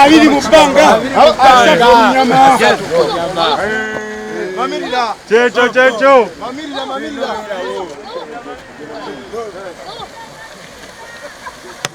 Abiri mu bbanga asatu omunyama kyekyo kyekyo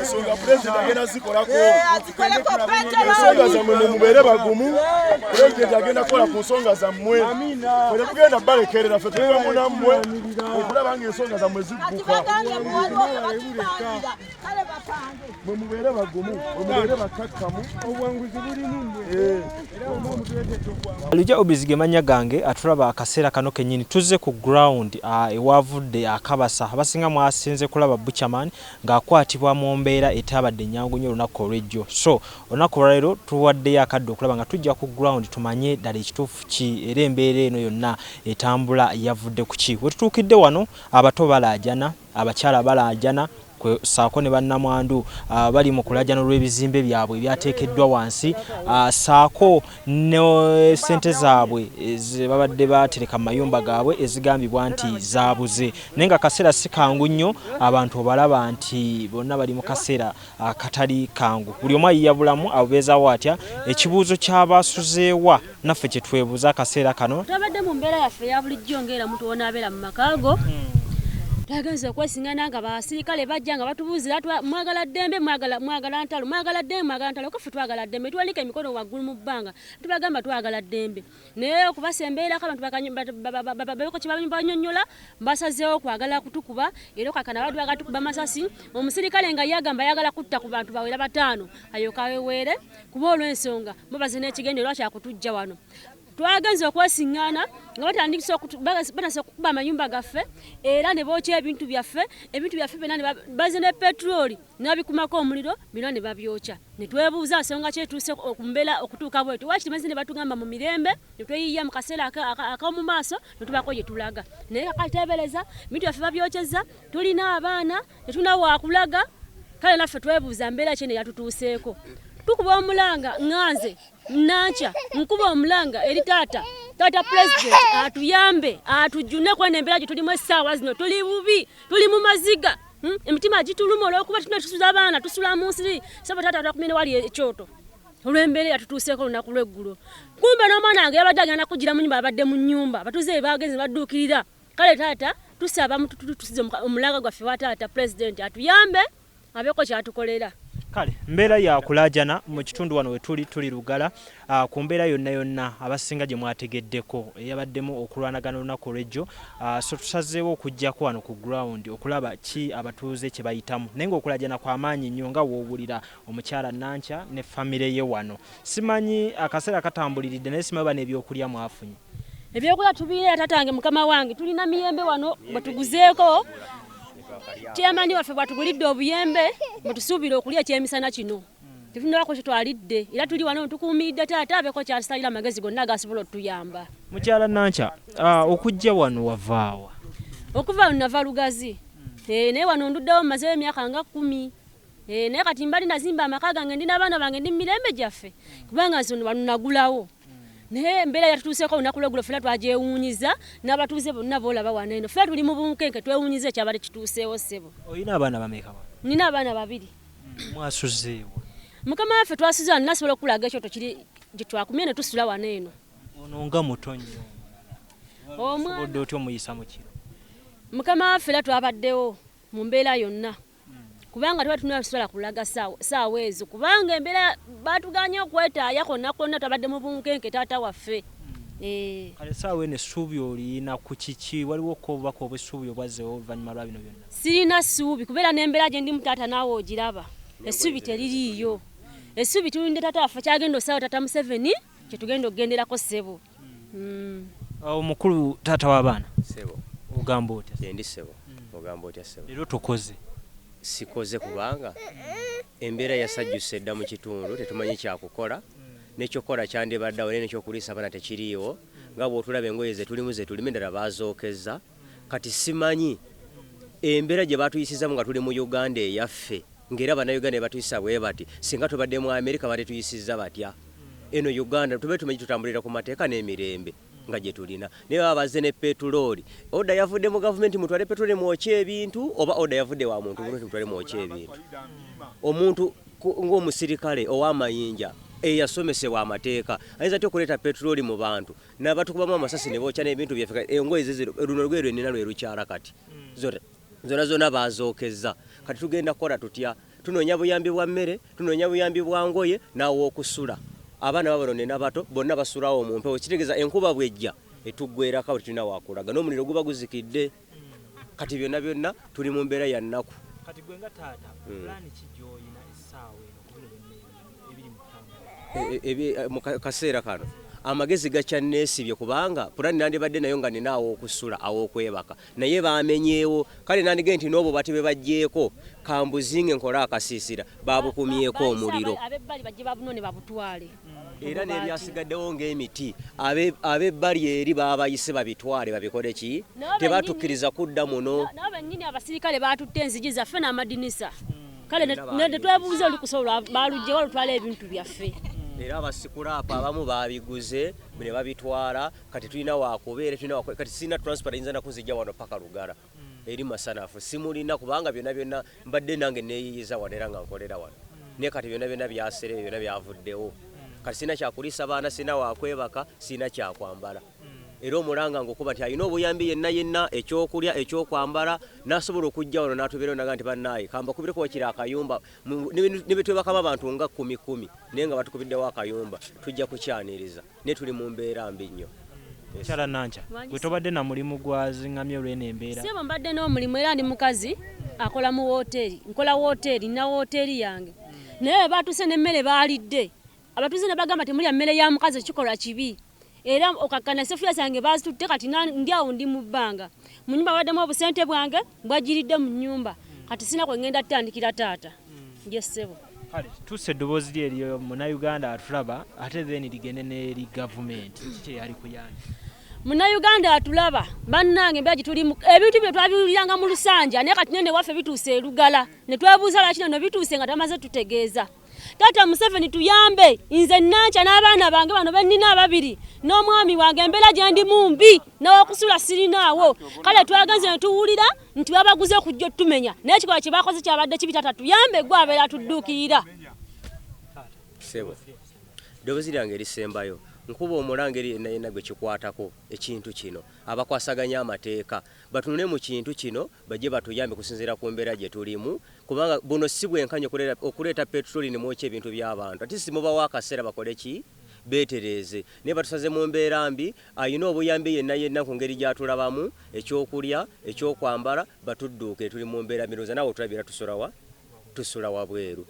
ensonga pulezidenti agenda zikolako ensonga zammwe mumubeere bagumu pulezidenti agenda kukola ku nsonga zammwe ffe tetugenda balekerera ffe tuliwamu nammwe okulaba nga ensonga zammwe zigguka mwe mubeere bagumu mwe mubeere bakakkamu obwanguzi bulimu mwe eh. era omu omutuleetedde obwangu alija obizi ge mannya gange atulaba akaseera kano kennyini tuzze ku ground ewaavudde akabasa abasinga mwasinze kulaba buchaman ng'akwatibwa mu mbeera etaabadde ennyangu nnyo olunaku olw'ejjo so olunaku olwaleero tuwaddeyo akadde okulaba nga tujja ku ground tumanye ddala ekituufu ki era embeera eno yonna etambula yavudde ku ki we tutuukidde wano abato balaajana Abakyala balaajana kwe ssaako ne bannamwandu abali mu kulaajana olw'ebizimbe byabwe ebyateekeddwa wansi ssaako ne ssente zaabwe ze babadde baatereka mu mayumba gaabwe ezigambibwa nti zaabuze naye ng'akaseera si kangu nnyo abantu obalaba nti bonna bali mu kaseera akatali kangu buli omu ayiya bulamu abubeezawo atya ekibuuzo ky'abaasuzeewa naffe kye twebuuza akaseera kano twabadde mu mbeera yaffe eya bulijjo ng'era muntu wonaabeera mu maka go twagenze okwesingana nga basirikale bajja nga batubuuzira mwagala ddembe mwagala ntalo mwagala ddembe mwagala ntalo kaffe twagala ddembe tuwanika emikono waggulu mu bbanga tubagamba twagala ddembe naye okubasembeerako abantu babeko kyebabanyonyola basazeewo kwagala kutukuba era kakana badu bagala tukuba masasi omusirikale nga yagamba yagala kutta ku bantu bawera bataano ayokaweweere kuba olw'ensonga mubaze n'ekigendo era kyakutujja wano twagenze okwesiŋŋaana nga batandikisa batasa okukuba amayumba gaffe era ne bookya ebintu byaffe ebintu byaffe byonna baze ne petroli nabikumako omuliro byona ne babyokya ne twebuuza nsonga ki etuuse ku mbeera okutuuka bwetyo waaki tumaze ne batugamba mu mirembe ne tweyiiya mu kaseera ak'omu maaso ne tubaako gye tulaga naye kakati teebereza bintu byaffe babyokyeza tulina abaana ne tulina waakulaga kale naffe twebuuza mbeera ki eno eyatutuuseeko tukuba omulanga nganze nankya nkuba omulanga eri taata taata pulezidenti atuyambe atujjune kwena embeera gye tulimu essaawa zino tuli bubi tuli mu maziga Hmm? emitima gituluma olwokuba tuna tusula abaana tusula mu nsiri saba taata takumine wali ekyoto olwembeera yatutuuseeko olunaku lweggulo kumbe n'omwana wange yabadde agenda kugira mu nyumba abadde mu nyumba abatuuze be baagenze badduukirira kale taata tusaba mutututusize omulaga gwaffe wa taata pulezidenti atuyambe abeeko kyatukolera kale mbeera yakulajana mu kitundu wano wetuli tuli lugala Ku mbeera yonna yonna abasinga gye mwategeddeko eyabaddemu okulwanagana olunaku olw'ejjo, so tusazeewo okujjako wano ku ground okulaba ki abatuuze kye bayitamu naye ng'okulaajana kwa maanyi nnyo nga w'owulira omukyala Nankya ne famire ye wano. Simanyi akaseera katambuliridde naye simanyi oba n'ebyokulya mwafunye? Ebyokulya tubirina tatange mukama wange tulina miyembe wano bwe tuguzeeko Chairman waffe bw'atugulidde obuyembe mwe tusuubira okulya ekyemisana kino. tetulina wako kitwalidde era tuli wano tukuumiridde taata abeeko kyatusalira amagezi gonna agasobola otuyamba mukyala nankya ah, okujja wano wavaawa okuva wano nava lugazi eh, naye wano nduddewo mazewo emyaka nga kumi eh, naye kati mbali nazimba amaka gange ndi nabaana bange ndi mumirembe gyaffe kubanga nze wano nagulawo naye embeera yatutuuseko olunaku lwegulo fena twagyewuunyiza n'abatuuze bonna boolaba wano eno fena tuli mu bunkenke twewuunyiza ekyabadde kituuseewo ssebo olina abaana bameka nina abaana babiri mwasuzeewa mukama waffe twasuze wano nasobola okukulaga ekyoto kiri gyetwakumye ne tusula wano eno ono nga muto nnyo omwanaobodde otya omuyisa mu kiro mukama waffe era twabaddewo mu mbeera yonna kubanga tuba tunula tusobola kulaga saawa ezo kubanga embeera batuganye okwetaaya konna konna twabadde mu bunkenke taata waffe hmm. eh. kale saawa eno essuubi oliyina ku kiki waliwo ko obubaka obwessuubi obwazzewo oluvannyuma lwa bino byonna Sirina ssuubi kubeera n'embeera gye ndimu taata naawe ogiraba essuubi teririiyo essuubi tulinde taata waffe kyagenda osaawo taata museveni kyetugenda okugenderako ssebo hmm. omukulu uh, taata w'abaana ssebo ogamba otya endi ssebo hmm. ogamba otya ssebo leero tukoze sikoze kubanga embeera yasajjusa edda mu kitundu tetumanyi kyakukola hmm. nekyokukola kyandibaddawo naye nekyokuliisa abaana tekiriiwo nga bwotulaba engoye zetulimu zetulime ddala bazookezza kati simanyi embera gyebatuyisizamu nga tuli mu Uganda eyaffe nga era banauganda bebatuyisa bwebati singa tubadde mu America bandituyisiza batya eno Uganda tube tumanyi tutambulira ku mateeka nemirembe nga gyetulina naye baba bazze ne petulooli oda yavudde mu gavumenti mutwale petulooli mwokye ebintu oba oda yavudde wa muntu gavumenti mutwale mwokye ebintu omuntu ng'omusirikale ow'amayinja eyasomesebwa amateeka ayinza atya okuleeta petulooli mu bantu nabatukubamu amasasi nebokya nebintu byaffe kati engoye ziziro luno lugoye lwenina lwe lukyala kati mm. zona zona zona bazokeza kati tugenda kukola tutya tunoonya buyambi bwa mmere tunoonya buyambi bwa ngoye n'awokusula abaana babano nina bato bonna basulawo mu mpewo kitegeeza enkuba bwejja etuggwerako tulina wakulaga n'omuliro guba guzikidde kati byonna byonna tuli mu mbeera ya nnaku kati gwe nga taata hmm. pulaani ki gy'olina essaawa eno kubino byonna ebiri mu e, e, e, eh, mu kaseera kano amagezi gakyanneesibye kubanga pulani nandibadde nayo nga nina aw'okusula aw'okwebaka naye bamenyeewo kale nandigee nti n'obwo bati bwe baggyeeko kambuzinge nkole akasiisira babukumyeko omuliro era n'ebyasigaddewo ng'emiti ab'ebbali eri baabayise babitwale babikole ki tebatukkiriza kudda muno nabo bennyini abasirikale baatutte enzigi zaffe n'amadinisa kale netwebuuza olukusobola balugyewo olutwala ebintu byaffe era abasikulaapu abamu babiguze ne babitwala kati tulina wakubeera kati sirina transport yinza nakuzijja wano paka lugala eri masanafu simulina kubanga byona byona mbadde nange neyiyiza wano era nga nkolera wano mm. naye kati byona byona byaserebe byona byavuddewo mm. kati sirina kyakulisa baana sirina wakwebaka sirina kyakwambala mm. era omulanga ngaokuba nti alina obuyambi yenna yenna ekyokulya ekyokwambala nasobola okujja wano natubeerao naga nti banaye kambakubire kuba kiri akayumba nebetwebakama abantu nga kumi kumi naye nga batukubiddewo akayumba tujja kukyaniriza naye tuli mu mbeera mbi nnyo. Mukyala Nankya, gwe tobadde na mulimu gwazing'amye olw'eno embeera? Ssebo mbadde n'omulimu era ndi mukazi akola mu wooteeri, nkola wooteeri, nina wooteeri yange naye bwe baatuuse n'emmere baalidde abatuuze ne bagamba temulya mmere ya mukazi ekikolwa kibi era okakkana sefuliya zange baazitutte kati ndi awo ndi mu bbanga mu nnyumba babaddemu obusente bwange bwajjiridde mu nnyumba kati sina kwe ngenda tutandikira taata nje ssebo kale tusa eddoboozi lye eriyo munauganda atulaba ate then ligende n'eri gavumenti kiki kyeyali kuyambye munauganda atulaba bannange mbeera gituli ebintu bino twabiwuliranga mu lusanja naye kati nene waffe bituuse erugala ne twebuuza lwaki neno bituuse nga tamaze tutegeeza taata museveni tuyambe nze nankya n'abaana bange bano bennina ababiri n'omwami wange embeera gyendi mu mbi n'okusula sirinaawo kale twagenze ne tuwulira nti babaguze okujja otumenya naye ekikolwa kye bakoze kyabadde kibi taata tuyambe gwe abeera atudduukirira sebo ddoboozi lyange erisembayo nkuba omulanga eri yenna yenna gwe kikwatako ekintu kino abakwasaganya amateeka batunule mu kintu kino bajje batuyambe kusinziira ku mbeera gye tulimu kubanga buno si bwenkanya okuleeta petroli ne mwokya ebintu by'abantu ati simubawo akaseera bakole ki beetereeze naye batusaze mu mbeera mbi, alina obuyambi yenna yenna ku ngeri gy'atulabamu, eky'okulya, eky'okwambala, batudduukire tuli mu mbeera mbi, ndowooza naawe otulabye era tusula wa? Tusula wabweru.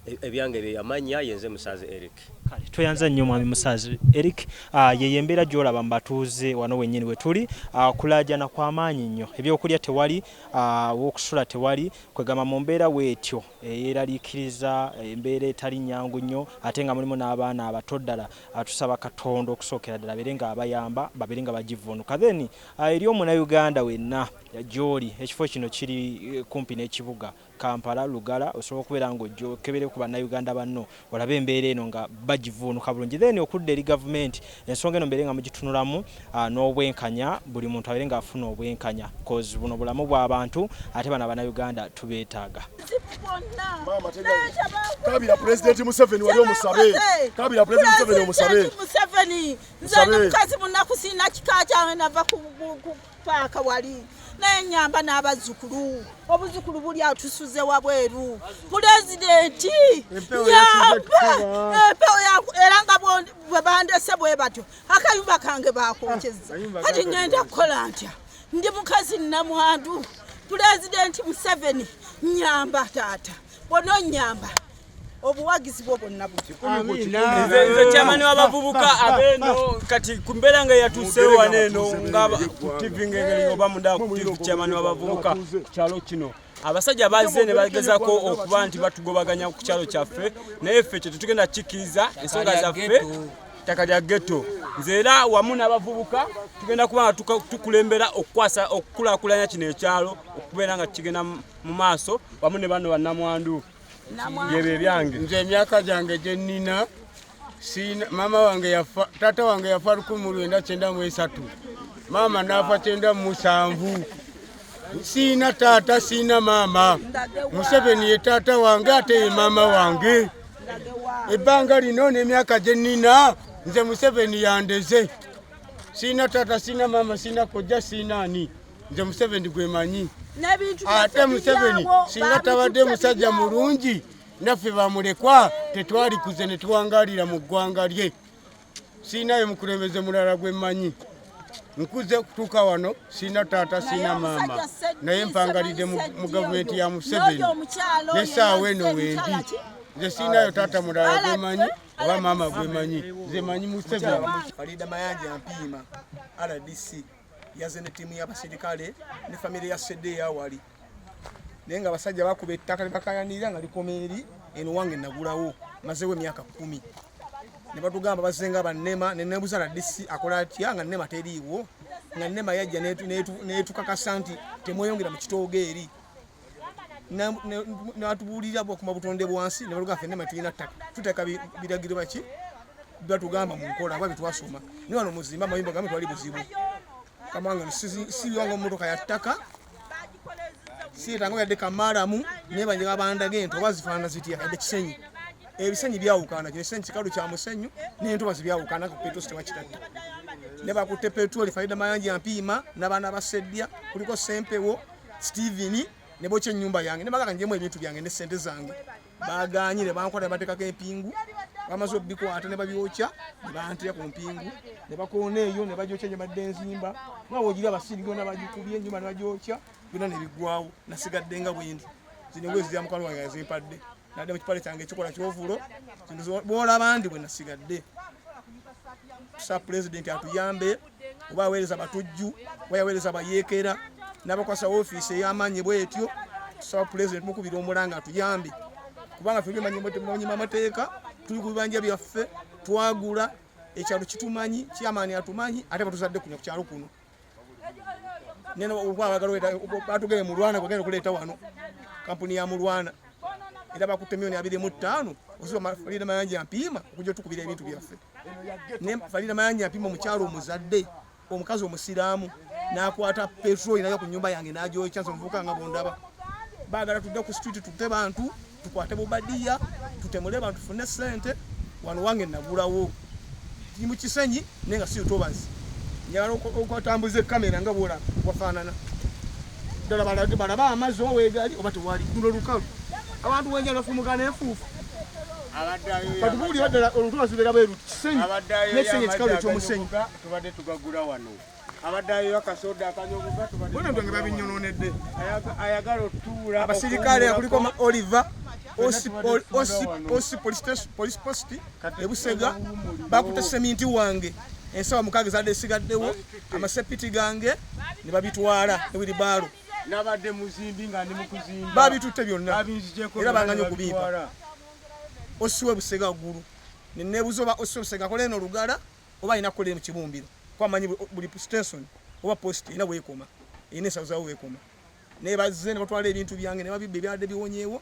E, ebyange bye yamanya ye nze Musaazi Eric. Kale tweyanza nnyo Mwami Musaazi Eric. Ah, yeyo embeera gy'olaba mu batuuze wano wennyini we tuli, ah, kulaajana kwa maanyi nnyo, ebyokulya tewali, ah, w'okusula tewali, kwegamba mu mbeera bw'etyo. eyeraliikiriza embeera etali nnyangu nnyo ate nga mulimu n'abaana abato ddala tusaba Katonda okusookera ddala abeere nga abayamba babeere nga bagivvuunuka then eri omunauganda wenna gy'oli ekifo kino kiri kumpi n'ekibuga Kampala, Lugala osobola okubeera nga ojja okebere ku bannauganda banno olabe embeera eno nga bagivuunuka bulungi then okudda eri gavumenti ensonga eno mubeere nga mugitunulamu n'obwenkanya buli muntu abeere nga afuna obwenkanya coz buno bulamu bwa bantu ate bano abana Uganda tubeetaaga. Kabira pulezidenti Museveni wali omusabe kabira pulezidenti Museveni omusabe Museveni nze ndi mukazi munaku sirina kika kyange nava ku paaka wali naye nyamba n'abazzukulu obuzzukulu buli atusuze wabweru pulezidenti nyamba empewo era nga bwe bandese bwe batyo akayumba kange bakokyeza ah, kati ngenda kukola ntya ndi mukazi nnamwandu pulezidenti museveni nyamba taata bononyamba obuwagizi bwo bwonna nze kyamani w'abavubuka abeeno kati ku mbeera nga yatuuseewo wano eno nga ku tivi ngengeri oba mundaa ku tivi kyamani w'abavubuka kyalo kino abasajja bazze ne bagezako okuba nti batugobaganya ku kyalo kyaffe naye ffe kye tetugenda kikkiriza ensonga zaffe ttaka lya getto nze era wamu n'abavubuka tugenda kuba nga tukulembera okukwasa okukulaakulanya kino ekyalo okubeera nga kigenda mu maaso wamu ne bano bannamwandu nze emyaka gyange gye nnina maama wange yafa taata wange yafa lukumi lwenda kyenda mu esatu maama n'afa kyenda mu musanvu siina taata siina maama museveni ye taata wange ate ye maama wange ebbanga lino n'emyaka gye nnina nze museveni yandeze siina taata siina maama siina kojja siina ani nze museveni gwemanyi ate museveni singa tabadde musajja mulungi naffe bamulekwa tetwali kuze ne tuwangalira mu ggwanga lye siinayo mukulembeze mulala gwe mmanyi nkuze okutuuka wano siina taata siina maama naye mpangalidde mu gavumenti ya museveni nesaawa eno wendi nze siinayo taata mulala gwe mmanyi oba maama gwe manyi nze manyi museveni yaze ne tiimu y'abaserikale ne famire ya sedde eyawali naye nga abasajja bakuba ettaka libakayanirira nga likoma eri eno wange nagulawo mazewo emyaka kumi ne batugamba bazenga bannema ne nebuza na disi akola atya nga nema teriiwo nga nema yajja netukakasa nti temweyongera mu kitoogo eri natubuulira bwakuma butonde bwansi nebaluga ffe nema tulina ttaka tuteeka biragiro baki batugamba mu nkola aba byetwasoma ni wano muzimba amayumba gamwe twali buzibu kamanga sibiwanga mumotoka ya ttaka siyetangawo yadde kamaalamu naye banje babandaga ento oba zifaanana zitya yadde kisenyi ebisenyi byawukana kino ekisenyi kikalu kya musenyu nentobazi byawukana ku petro sitewakitatta ne bakutte petroli faida mayanja mpiima n'abaana baseddya kuliko sempewo Steven ne bokya ennyumba yange ne bagala njemu ebintu byange ne ssente zange bagaanye ne bankola ne bateekako empingu bamaze obikwata ne babyokya ne bantira ku mpingu ne bakoona eyo ne bagyokya gye badde enzimba nawe ogira abasiiri byona bagikubye ennyumba ne bagyokya byona ne biggwawo nasigadde nga bwendi zino bwezi za mukwano wange yazimpadde nadde mu kipale kyange ekikola kyovulo bwolaba ndi bwe nasigadde sa pulezidenti atuyambe oba aweereza batujju oba yaweereza bayeekera n'abakwasa ofiisi ey'amaanyi bwetyo tusaba pulezidenti mukubira omulanga atuyambe kubanga fe bimanyimanyima amateeka tuli ku bibanja byaffe twagula ekyalo kitumanyi kyamaani atumanyi ate batuzadde kuno ku kyalo kuno neno batugeye mulwana kwagenda okuleeta wano kampuni ya mulwana era bakutte milioni abiri mu ttaano oziba falina mayanja mpiima okuja otukubira ebintu byaffe ne falina mayanja mpiima omukyalo omuzadde omukazi omusiraamu nakwata petroli nayo ku nyumba yange nagyokya nze omuvuka nga bondaba bagala tudde ku street tutte bantu tukwate bubadiya tutemule bantu fune sente wano wange nagulawo ndi mu kisenyi naye nga si lutobazi njagala okutambuza ekamera nga bwola wafaanana ddala balaba amazzi oba weegali oba tewali luno lukalu abantu wenjala fumuka nenfuufu katubuulira ddala olutobazi lubeera bweru kisenyi nekisenyi ekikalu ekyomusenyi tubadde tugagula wano abasirikale kuliko oliver osi polisi positi ebusega bakuta seminti wange ensawa mukaaga ezadde esigaddewo amasepiti gange ne babitwala ewiribaalo nabadde muzimbi nga ndi mukuzimba babitutte byonna era banganya okubimpa osiwe busega ggulu nenebuza oba osiwe busega akola eno olugala oba alina kukolera mu kibumbiro kuba manyi buli station oba post erina weekoma erina ensawo zawo weekoma naye bazze ne batwala ebintu byange ne babibba ebyadde biwonyeewo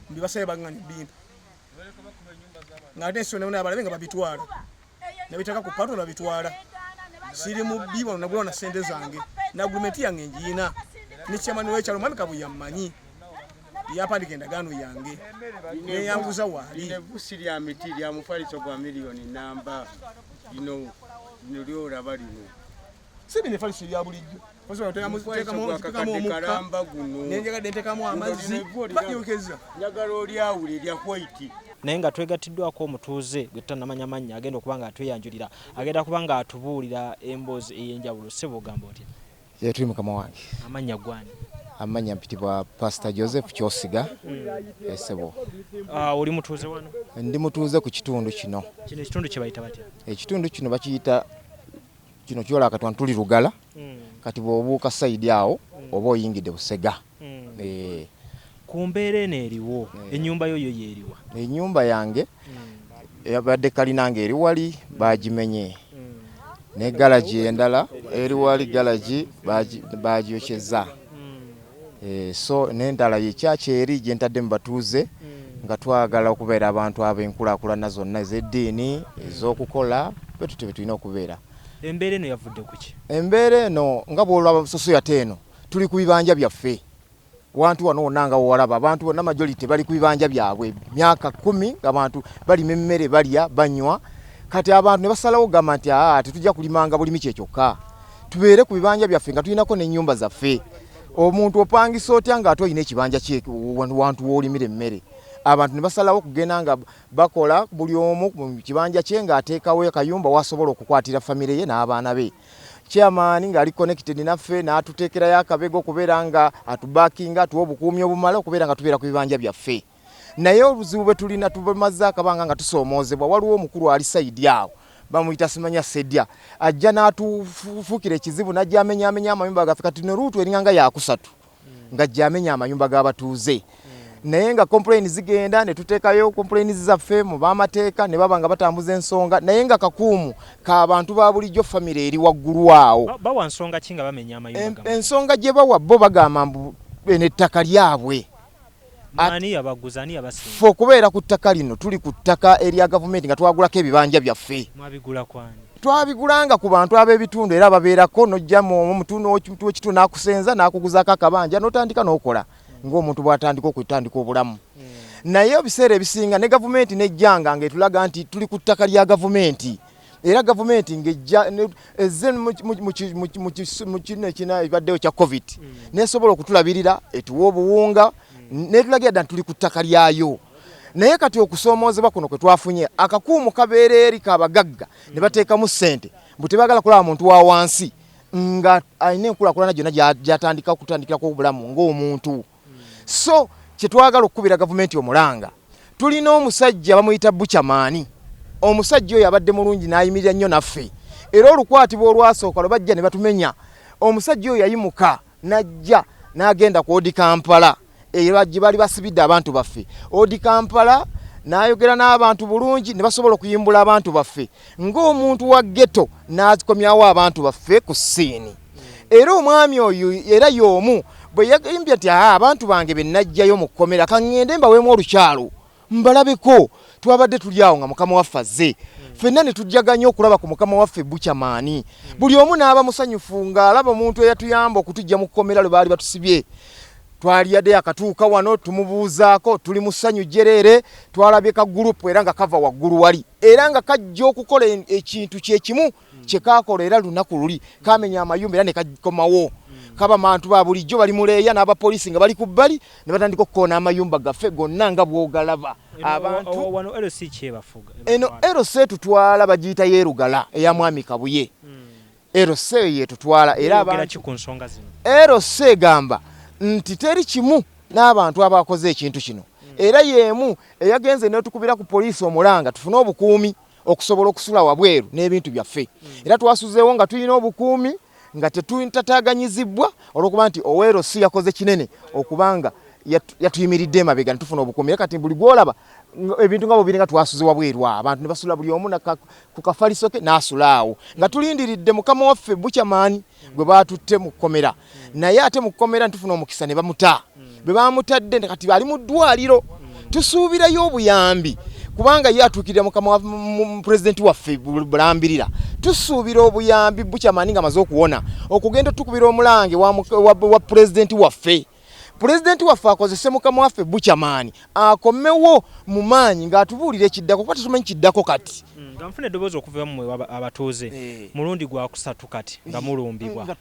mbibasabye bagani bimpa nga ate ensonda bona abalabe nga babitwala nabitaka ku pato nabitwala siri mubbi wano nagulawo na sente zange na agurumenti yange njiyina ne chairman wekyalo mwami kabuya mmanyi yapandika endagaano yange neyanguza waali evusi lya miti lya mufaliso gwa miliyoni namba lino lino lyoraba lino si bino efaliso ebya bulijjo kalamba guno nenjagadde ntekamu amazzi bajokeza njagala olyawula erya kwaiti naye nga twegattiddwako omutuuze gwe tutanamanya mannya agenda okuba nga atweyanjulira agenda kuba nga atubuulira emboozi ey'enjawulo sebo ogamba otya Ye tuli mukama wange. Amannya gwani? Amannya mpitibwa Pastor Joseph Kyosiga esebo. Eh, uh, ah, oli mutuuze wano? Ndi mutuuze ku kitundu kino. Kino ekitundu kye bayita batya? Ekitundu kino bakiyita kino kyola akatwa ntuli lugala. Mm. Kati bw'obuuka sayidi awo mm. oba oyingidde Busega. Mm. Ku mbeera eno eriwo, ennyumba yo yo y'eriwa? Ennyumba yange yabadde kalina ng'eri wali baagimenye, ne galagi endala eri wali galagi baagyokyezza, so n'endala ye kyaki eri gye ntadde mu batuuze nga twagala okubeera abantu ab'enkulaakulana zonna ez'eddiini, ez'okukola, bwe tutyo bwe tulina okubeera. Embeera eno yavudde ku ki? Embeera eno nga bw'olaba busosoya ate eno tuli ku bibanja byaffe wantu wano wonna nga wewalaba abantu bonna majority bali ku bibanja byabwe myaka kumi ngabantu balima emmere balya banywa kati abantu ne basalawo gamba nti aa tetujja kulimanga bulimi kye kyokka tubeere ku bibanja byaffe nga tulinako n'ennyumba zaffe omuntu opangisa otya ng'ate olina ekibanja kye wantu w'olimira emmere abantu ne basalawo okugenda nga bakola buli omu mu kibanja kye ng'ateekawo akayumba wasobola okukwatira famire ye n'abaana be Chairman ng'ali connected naffe n'atuteekerayo akabega okubeera nga atubackinga atuwa obukuumi obumala okubeera nga tubeera ku bibanja byaffe naye obuzibu bwe tulina tubamazze akabanga nga tusoomoozebwa waliwo omukulu ali sayidi awo bamuyita simanya sedya ajja n'atufuukira ekizibu n'ajja amenyaamenya amayumba gaffe kati no luutu eringanga yakusatu nga gyamenya amayumba g'abatuuze naye nga complain zigenda ne tuteekayo complain zaffe mu bamateeka ne baba nga batambuza ensonga naye nga kakuumu ka bantu ba bulijjo famire eri waggulu awo bawa nsonga ki nga bamenya amayumba ensonga gye bawa bo bagamba mbu eno ettaka lyabwe ffe okubeera ku ttaka lino tuli ku ttaka erya gavumenti nga twagulako ebibanja byaffe twabigulanga ku bantu ab'ebitundu era babeerako nojjamu omutundu wekitundu nakusenza nakuguzaako akabanja notandika nokola ng'omuntu bwatandika okutandika obulamu hmm. naye ebiseera ebisinga ne gavumenti nejjanga nga etulaga nti tuli ku ttaka lya gavumenti era gavumenti ngejja ezze mu kino ekina ebaddewo kya covid mm. nesobola okutulabirira etuwa obuwunga mm. netulagira dda ntituli ku ttaka lyayo naye kati okusoomoozebwa kuno kwe twafunye akakuumu kabeera eri kabagagga ne bateekamu ssente mbu tebagala kulaba muntu wa wansi nga alina enkulakulana gyonna gyatandika okutandikirako obulamu ng'omuntu so kyetwagala okukubira gavumenti omulanga tulina omusajja bamuyita bucamani omusajja oyo abadde mulungi nayimirira nnyo naffe era olukwatibwa olwasooka lwe bajja ne batumenya omusajja oyo yayimuka najja n'agenda ku odi kampala era gye baali basibidde abantu baffe odi kampala n'ayogera n'abantu bulungi ne basobola okuyimbula abantu baffe ng'omuntu wa ghetto n'azikomyawo abantu baffe ku ssiini era omwami oyo era y'omu bwe yagimbye nti aa abantu bange be najjayo mu kkomera ka ŋŋende mbaweemu olukyalo mbalabeko twabadde tuli awo nga mukama waffe azze ffenna ne tujjaganya okulaba ku mukama waffe bucamaani buli omu n'aba musanyufu ng'alaba omuntu eyatuyamba okutujja mu kkomera lwe baali batusibye twali yadde yakatuuka wano tumubuuzaako tuli mu ssanyu jjereere twalabye ka gurupu era nga kava waggulu wali era nga kajja okukola ekintu kyekimu kyekakola era lunaku luli kamenya amayumba era nekakomawo kaba mantu ba bulijjo bali muleeya n'abapoliisi nga bali ku bbali ne batandika okukoona amayumba gaffe gonna nga bwogalaba abantu eno lc etutwala bagiyita yerugala eya mwami kabuye hmm. LC yetutwala era abantu ku nsonga zino. LC egamba nti teri kimu n'abantu abakoze ekintu kino hmm. era y'emu eyagenze n'etukubira ku poliisi omulanga tufune obukuumi okusobola okusula wabweru n'ebintu byaffe hmm. era twasuzeewo nga tulina obukuumi nga tetutataganyizibbwa olwokuba nti owero si yakoze kinene okubanga yatuyimiridde emabega netufuna obukuumi era kati buli gwolaba ebintu nga bubiri nga twasuze wabweru abantu ne basula buli omu ku kafaliso ke n'asula awo nga tulindiridde mukama waffe bucamani gwe baatutte mu kkomera naye ate mu kkomera ntufuna omukisa ne bamuta bwe baamutadde kati ali mu ddwaliro tusuubirayo obuyambi kubanga ye atuukirira mukama wa pulezidenti waffe bulambirira tusuubira obuyambi bukyamaani nga amaze okuwona okugenda otukubira omulange wa pulezidenti waffe pulezidenti waffe akozese mukama waffe bucamaani akomewo mu maanyi ng'atubuulira ekiddako kuba tetumanyi kiddako kati mm, nga nfuna eddoboozi okuva mwe abatuuze eh. mulundi gwakusatu kati nga eh, mulumbibwa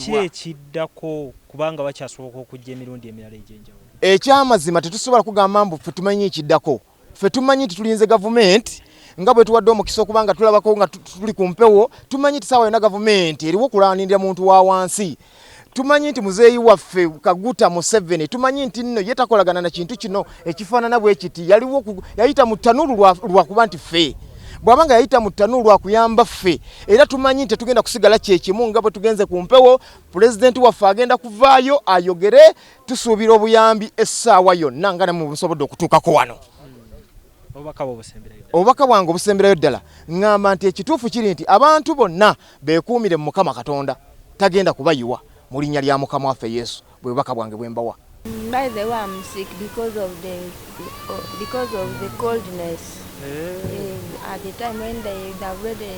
ki ekiddako kubanga bakyasoboka okujja emirundi emirala egyenjawulo ekyamazima tetusobola kugamba mbu fe tumanyi ekiddako Ffe tumanyi nti tulinze gavumenti nga bwe tuwadde omukisa okuba nga tulabako nga tuli ku mpewo, tumanyi nti saawa yona gavumenti eriwo kulanindira muntu wa wansi. Tumanyi nti muzeeyi waffe Kaguta Museveni, tumanyi nti nno ye takolagana na kintu kino ekifaanana bwe kiti. Yaliwo yayita mu ttanuulu lwa kuba nti ffe bwaba nga yayita mu ttanuulu lwa kuyamba ffe, era tumanyi nti tetugenda kusigala kye kimu nga bwe tugenze ku mpewo. Pulezidenti waffe agenda kuvaayo ayogere Tusuubira obuyambi essaawa yonna nga namwe busobodde okutuukako wano. Obubaka bwange obusemberayo ddala ngamba nti ekituufu kiri nti abantu bonna beekuumire mu Mukama Katonda tagenda kubayiwa mu linnya lya Mukama waffe Yesu bwe bubaka bwange bwe mbawa. By the way, I'm sick because of the because of the coldness. Yeah. At the time when they, they already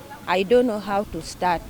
I don't know how to start.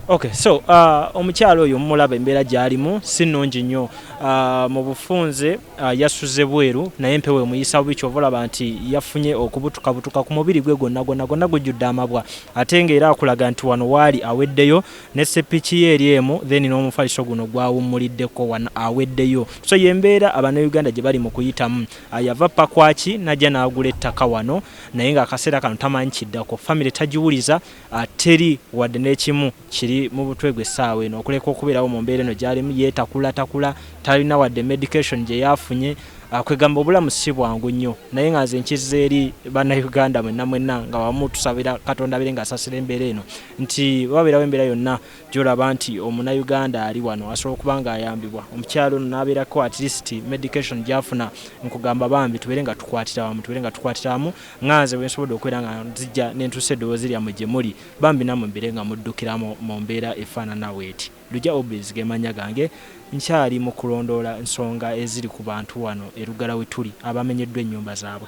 Okay, so uh, omukyalo oyo mumulaba embeera gyalimu si nnungi nnyo uh, mu bufunze uh, yasuze bweru naye empewo emuyisa bubi kyova olaba nti yafunye okubutukabutuka ku mubiri gwe gwonna gwonna gwonna gujjudde amabwa ate nga era akulaga nti wano waali aweddeyo ne sepiki ye eri emu then n'omufaliso guno gwawummuliddeko wano aweddeyo so yembeera abanauganda gye bali mu kuyitamu uh, yava pakwaki najja n'agula ettaka wano naye nga akaseera kano tamanyi kiddako famire tagiwuliza ah, teri wadde n'ekimu kiri mu butwe gwe essaawa eno okuleka okubeerawo mu mbeera eno gyalimu yeetakula takula talina wadde medication gye yaafunye ah, kwegamba obulamu si bwangu nnyo naye nga nze nkizza eri bannayuganda mwenna mwenna nga wamu tusabira katonda abere nga asasira embeera eno nti babeerawo embeera yonna gy'olaba nti omunayuganda ali wano asobola okuba nga ayambibwa omukyala ono n'abeerako at least medication gy'afuna nkugamba bambi tubeere nga tukwatira wamu tubeere nga tukwatira wamu nga nze wensobodde okubeera nga nzijja nentuusa eddoboozi lyammwe gye muli bambi nammwe mbeere nga muddukiramu mu mbeera efaanana bw'eti Lugya Obes ge mannya gange nkyali mu kulondoola nsonga eziri ku bantu wano e Lugala we tuli abamenyeddwa ennyumba zaabwe.